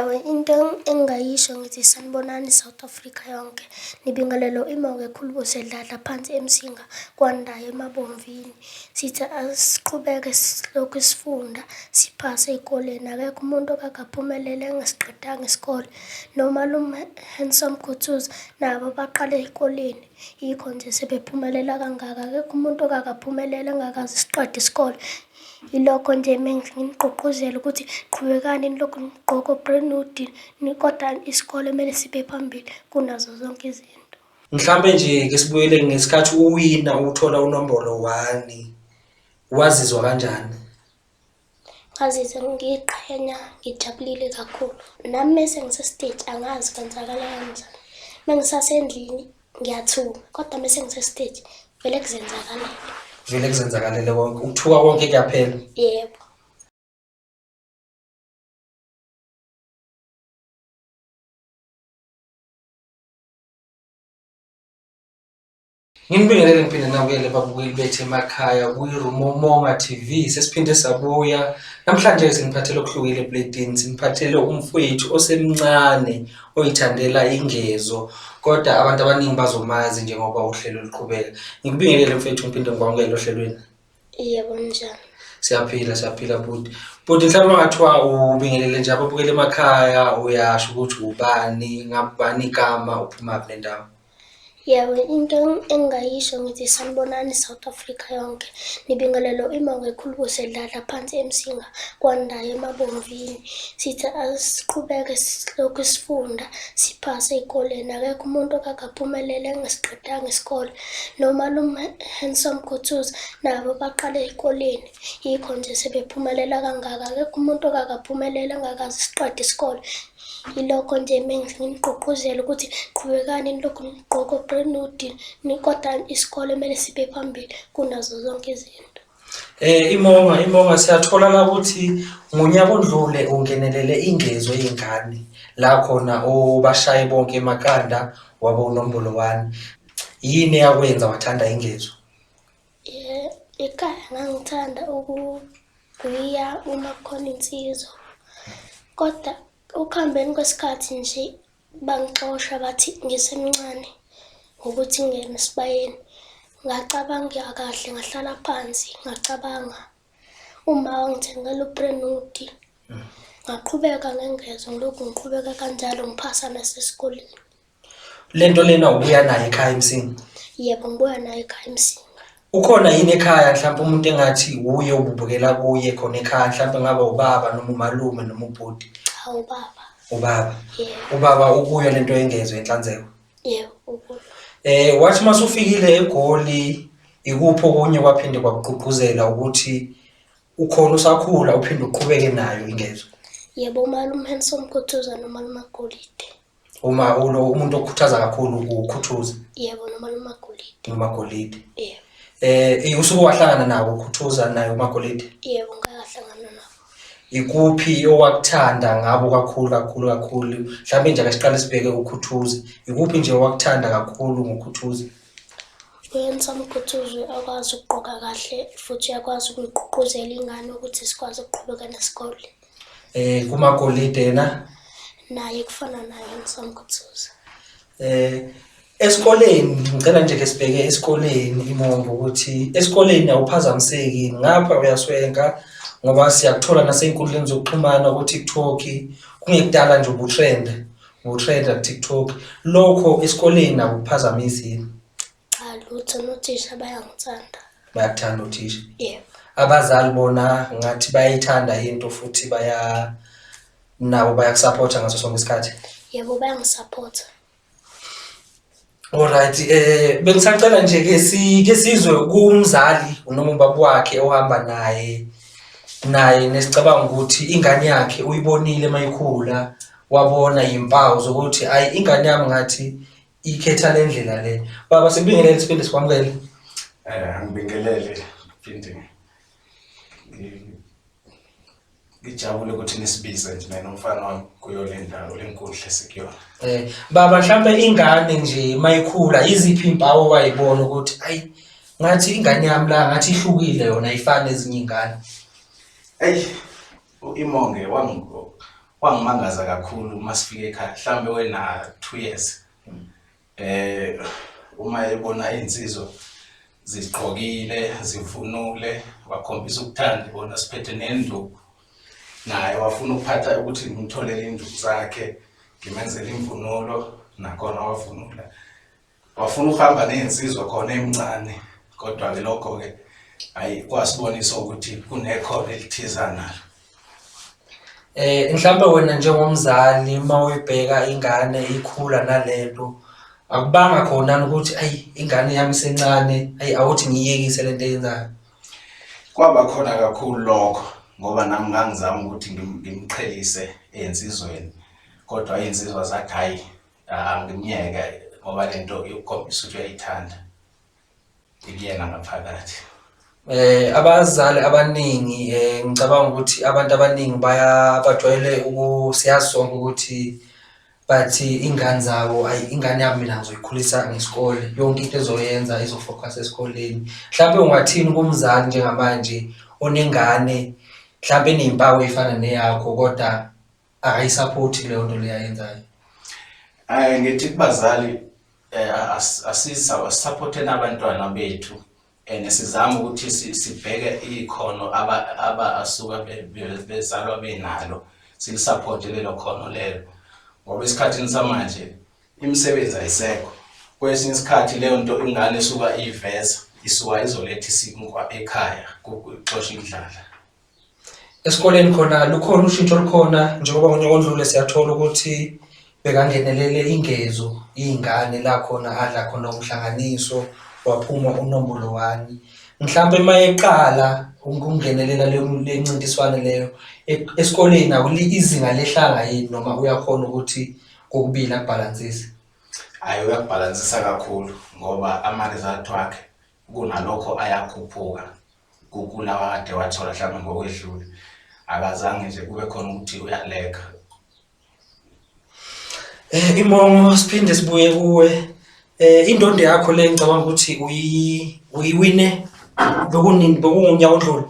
Into engingayisho ngithi sanibonani South Africa yonke. Nibingelelwa uMoya ekhuluma uSedladla phansi eMsinga kwaNdayi eMabomvini. Sithi asiqhubeke silokhu sifunda siphase ey'koleni. Akekho umuntu okakaphumelele engasiqedanga isikole. Nomalume Handsome Gutsuzi nabo baqale ey'koleni, yikho nje sebephumelela kangaka. Akekho umuntu okakaphumelele engakaze siqede isikole. Yilokho nje menginigqugquzela ukuthi qhubekani nilokhu nigqoke o-brand new deal ni- kodwa isikole kumele sibe phambili kunazo zonke izinto. Mhlampe nje ke sibuyele ngesikhathi uwina uthola unombolo wani. Wazizwa kanjani? Ngazizwa ngiqhenya ngijabulile kakhulu. Nami mese ngisestage angazi kwenzakala kanjani. Mengisasendlini ngiyathuka kodwa mese ngisestage vele kuzenzakalele vele kuzenzakalele konke ukuthuka konke kuyaphela yebo Nginibingelele ngiphinde nabuyele babukeli bethu emakhaya kwiRumomonga TV sesiphinde sabuya namhlanje siniphathele okuhlukile ebladini siniphathele umfowethu osemncane oyithandela ingezo kodwa abantu abaningi bazomazi njengoba uhlelo luqhubeka ngikubingelele mfethu ngiphinde ngikwamukele ohlelweni yebo njani siyaphila siyaphila bhuti bhuti mhlawumbe ungathiwa ubingelele nje ababukela emakhaya uyasho ukuthi ubani ngabani igama uphumaphi nendawo Yebo, into engingayisho ngithi sanibonani South Africa yonke. Nibingelelo imongo ekhulu kusedlala phansi emsinga kwandayo emabomvini. Sithi asiqhubeke silokhu sifunda siphase ezikoleni. Akekho umuntu okakaphumelele engasiqedanga isikole. Nomalume Handsome Kuthuza nabo baqale ezikoleni. Yikho nje sebephumelela kangaka. Akekho umuntu okakaphumelele engakaze siqede isikole. Yilokho nje mengise nginigqugquzela ukuthi qhubekani nilokhu nigqoko grenudi kodwa isikole kumele sibe phambili kunazo zonke izinto. Eh imonga imonga siyathola la ukuthi ngonyaka odlule ungenelele ingezo yengane la khona obashaye bonke emakanda wabo unombolo 1 yini yakwenza wathanda ingezo Ekhaya ngangithanda ukugwiya uma kukhona insizwa kodwa ukuhambeni kwesikhathi nje bangixosha bathi ngisemncane ngokuthi ngingene esibayeni ngacabanga kahle ngahlala phansi ngacabanga uma wangithengela uprenuti ngaqhubeka ngengezo ngilokhu ngiqhubeka kanjalo ngiphasa nasesikoleni Le nto lena ubuya nayo ekhaya emsini. Yebo ngibuya nayo ekhaya emsini. Ukhona yini ekhaya mhlawumbe umuntu engathi wuye ububukela kuye khona ekhaya mhlawumbe ngaba ubaba noma umalume noma ubhuti. Cha ubaba. Ubaba. Yeah. Ubaba ukuyo lento yengezwe inhlanzeko. Yebo ukuyo. Eh wathi masufikile eGoli ikuphi okunye kwaphinde kwakugqugquzela ukuthi ukhona usakhula uphinde uqhubeke nayo ingezwe. Yebo umalume Handsome Khuthuza nomalume Golide. Uma ulo umuntu okhuthaza kakhulu ukhuthuza. Yebo noma nomagolide. Nomagolide. Yebo. Eh usuke wahlangana nawo ukhuthuza naye umagolide. Yebo ngahlangana nawo. Ikuphi owakuthanda ngabo kakhulu kakhulu kakhulu mhlawumbe nje akasiqale sibheke ukhuthuza. Ikuphi nje owakuthanda kakhulu ngokhuthuza? Uyenza umkhuthuzi akwazi ukugqoka kahle futhi uyakwazi ukugqugquzela ingane ukuthi sikwazi ukuqhubeka nesikole. Eh kumakolide na? Naye kufana naye ngisamkhuthuza. Eh esikoleni ngicela nje ke sibheke esikoleni imongo ukuthi esikoleni awuphazamiseki ngapha uyaswenka ngoba siyakuthola nasey'nkundleni zokuxhumana ku-tiktok kungekudala nje ubutrenda ubutrenda ku-tiktok lokho esikoleni akuphazamisi yini Cha lutho nothisha bayangithanda. Bayakuthanda uthisha? Yebo. Abazali bona ngathi bayayithanda into futhi baya nabo bayakusapotha ngaso sonke isikhathi? Yebo bayangisapotha. Alright eh bengisacela nje ke si ke sizwe kumzali noma ubaba wakhe ohamba naye naye nesicabanga ukuthi ingane yakhe uyibonile mayikhula wabona impawu zokuthi ayi ingane yami ngathi ikhetha le ndlela le baba sikubingelele siphinde sikwamukele Eh, ngibingelele phinde ngi- ngijabule ukuthi nisibize nje mina nomfana wami kuyo le ndawo le nkundla esikuyona um baba mhlawumpe ingane nje mayikhula yiziphi iy'mpawu owayibona ukuthi ayi ngathi ingane yami la ngathi ihlukile yona ayifani ezinye iy'ngane eyi U-Imonge wangimangaza kakhulu uma sifike ekhaya mhlawumbe wena-two years eh uma ebona iy'nsizwa zigqokile zivunule wakhombisa ukuthanda ibona siphethe nenduku naye wafuna ukuphatha ukuthi ngimtholele induku zakhe ngimenzele imvunulo nakhona wavunula Wafuna ukuhamba ney'nsizwa khona emncane kodwa-ke lokho-ke ayi kwasibonisa ukuthi kunekhono elithiza nalo. Eh mhlambe wena njengomzali uma uyibheka ingane ikhula nalento akubanga khona ukuthi ayi ingane yami sencane ayi awuthi ngiyekise lento eyenzayo. Kwaba khona kakhulu lokho ngoba nami ngangizama ukuthi ngimqhelise ey'nsizweni kodwa iy'nsizwa zathi hhayi Ah, ngimyeke ngoba le nto yokukhombisa ukuthi uyayithanda ngikuyena ngaphakathi Eh abazali abaningi eh ngicabanga ukuthi abantu abaningi baya bajwayele ukusiyazi sonke ukuthi bathi ingane zabo ayi ingane yami mina ngizoyikhulisa ngesikole yonke into ezoyenza izofocus esikoleni mhlawumbe ungathini kumzali njengamanje onengane mhlawumbe enezimpawu ezifana neyakho kodwa akayisaphothi kuleyo nto leyo ayenzayo um ngithi kubazali um asisaphotheni nabantwana bethu and sizama ukuthi sibheke ikhono abasuka bezalwa benalo silisaphote lelo khono lelo ngoba esikhathini samanje imisebenzi ayisekho kwesinye isikhathi leyo nto ingane esuka iveza isuka izoletha isinkwa ekhaya kuxosha indlala Esikoleni khona lukhona ushintsho olukhona njengoba ngonyaka ondlule siyathola ukuthi bekangenelele ingezo iy'ngane la khona adla khona umhlanganiso waphuma unombolo one. Mhlampe uma eqala ukungenelela le ncintiswane leyo esikoleni izinga lehlanga yini noma uyakhona ukuthi kokubili akubhalansise? Hhayi uyakubhalansisa kakhulu ngoba ama-result wakhe kunalokho ayakhuphuka. kukula wakade wathola mhlawumbe ngokwedlule akazange nje kube khona ukuthi uyaleka eh imongo siphinde sibuye kuwe eh indondo yakho le ngicabanga ukuthi uyi uyiwine bokunini bokunyaka odlule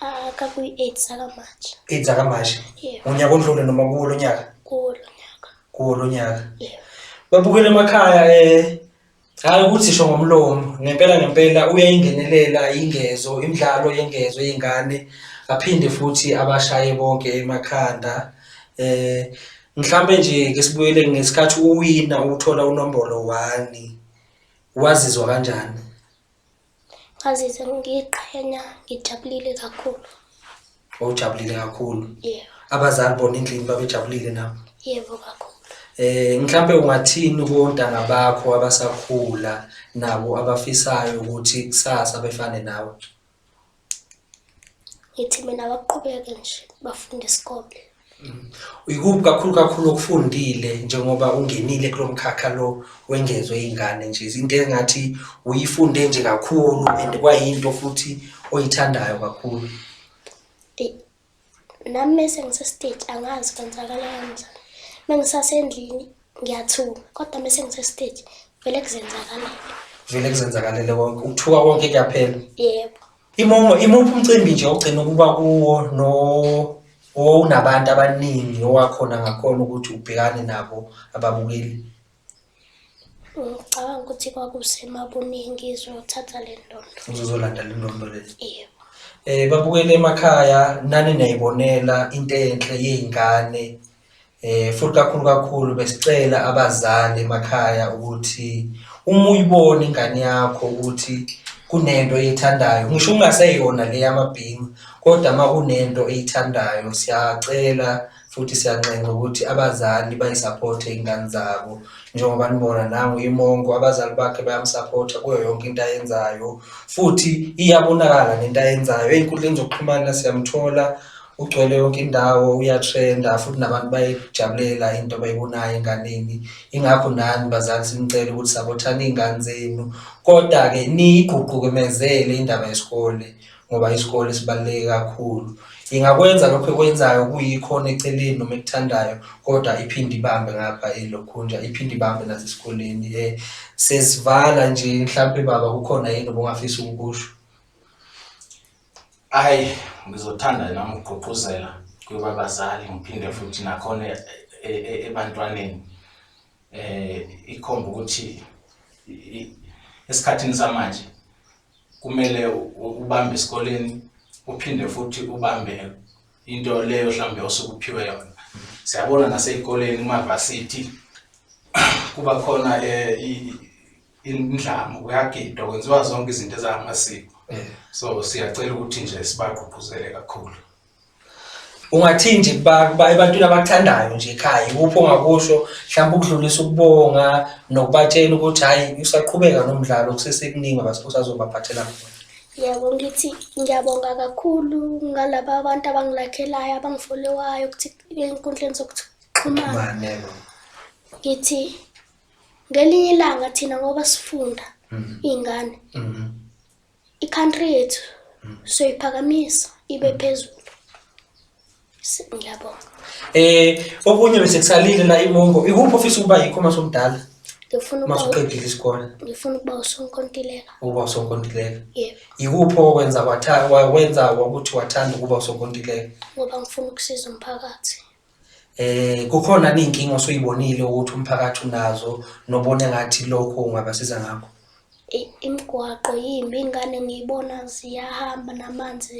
aka kuyi 8 saka March 8 saka March unyaka odlule noma kuwo lonyaka kuwo lonyaka kuwo lonyaka babukele emakhaya eh Hhayi ukuthi sho ngomlomo, ngempela ngempela uyayingenelela ingezo, imidlalo yengezo yey'ngane, aphinde futhi abashaye bonke emakhanda. Eh, mhlampe nje ke sibuyele ngesikhathi uwina uthola unombolo one, wazizwa kanjani? Ngazizwa ngiqhenya, ngijabulile kakhulu. Ujabulile kakhulu. Yebo. Abazali bona endlini babejabulile na? Yebo kakhulu. Eh mhlambe ungathini kontanga bakho abasakhula nabo abafisayo ukuthi kusasa befane nawe? ngithi mina baqhubeke nje bafunde isikole mm. uyikuphi kakhulu kakhulu okufundile njengoba ungenile kulo mkhakha lo wengezwe iy'ngane nje into engathi uyifunde nje kakhulu and kwayinto futhi oyithandayo kakhulu nami mese ngisestage angazi kwenzakala kanjani mengisasendlini ngiyathuka kodwa mese ngisestage vele kuzenzakalele vele kuzenzakalele konke ukuthuka konke kuyaphela yebo imomo imuphi umcimbi nje ogcina ukuba kuwo no owunabantu abaningi owakhona ngakhona ukuthi ubhekane nabo ababukeli Ngicabanga ukuthi kwakusemabuningi izothatha le ndondo. Uzozolanda le ndondo le. Yebo. Eh babukele emakhaya nani nayibonela into enhle yezingane. Eh futhi kakhulu kakhulu besicela abazali emakhaya ukuthi uma uyibona ingane yakho ukuthi kunento eyithandayo ngisho ungaseyona le yamabhingu kodwa uma kunento eyithandayo siyacela futhi siyanxenxa ukuthi abazali bayisapothe iy'ngane zabo njengoba nibona nangu imongo abazali bakhe bayamsapotha kuyo yonke into ayenzayo futhi iyabonakala nento ayenzayo ey'nkundleni zokuxhumana siyamthola ugcwele yonke indawo uyatrenda futhi nabantu bayijabulela into abayibonayo enganeni ingakho nani bazali sinicela ukuthi sabothani iy'ngane zenu kodwa-ke niyigququkumezele indaba yesikole ngoba isikole sibaluleke kakhulu. Ingakwenza lokhu ekwenzayo kuyikhona eceleni noma ekuthandayo kodwa iphinde ibambe ngapha elokhunja iphinde ibambe nasesikoleni. Eh, sesivala nje mhlampe baba kukhona yini obungafisa ukukusho? Ayi ngizothanda nami ukugqugquzela kwabazali ngiphinde futhi nakhona e, e, e, ebantwaneni eh ikhomba ukuthi esikhathini samanje kumele ubambe esikoleni uphinde futhi ubambe into leyo mhlambe osuke uphiwe yona siyabona nasey'koleni kumavasithi kuba khona um indlamu kuyagidwa kwenziwa zonke izinto ezamasiko so siyacela ukuthi nje sibagqugquzele kakhulu ungathini nje kuba ebantwini abathandayo nje ekhaya ikuphi ongakusho mhlawumbe ukudlulisa ukubonga nokubatshela ukuthi hhayi usaqhubeka nomdlalo kusesekuningi osazobaphathela khona yebo ngithi ngiyabonga kakhulu ngalaba abantu abangilakhelayo abangifolewayo ukuthi enkundleni zokuxhumana ngithi ngelinye ilanga thina ngoba sifunda mm-hmm. iy'ngane mm-hmm. I-country yethu hmm. soyiphakamisa ibe hmm. phezulu. Ngiyabonga. Eh okunye bese kusalile la imongo. Ikuphi ofisa ukuba yikho uma somdala? Ngifuna ukuba masuqedile isikole. Ngifuna ukuba usonkontileka. Ukuba usonkontileka. Yebo. Yikuphi okwenza watha wenza ukuthi wathanda ukuba usonkontileka? Ngoba ngifuna ukusiza umphakathi. Eh kukhona izinkinga osuyibonile ukuthi umphakathi unazo nobone ngathi lokho ungabasiza ngakho. Imigwaqo yimbi ingane ngiyibona ziyahamba namanzi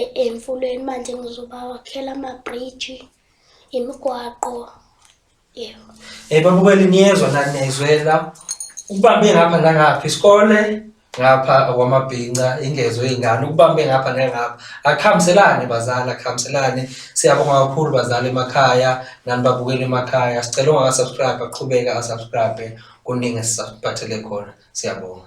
e, emfuleni manje ngizobawakhela ama-bridge, imigwaqo Yebo. Eh babukeli niyezwa nani niyayizwela. Ukubambe ngapha nangapha isikole ngapha okwamabhinca ingezo ingane ukubambe ngapha nangapha akuhambiselani bazali akuhambiselani siyabonga kakhulu bazali emakhaya nani babukeli emakhaya sicela ungakasubscribe aqhubeke asubscribe kuningi esisaphathele khona siyabonga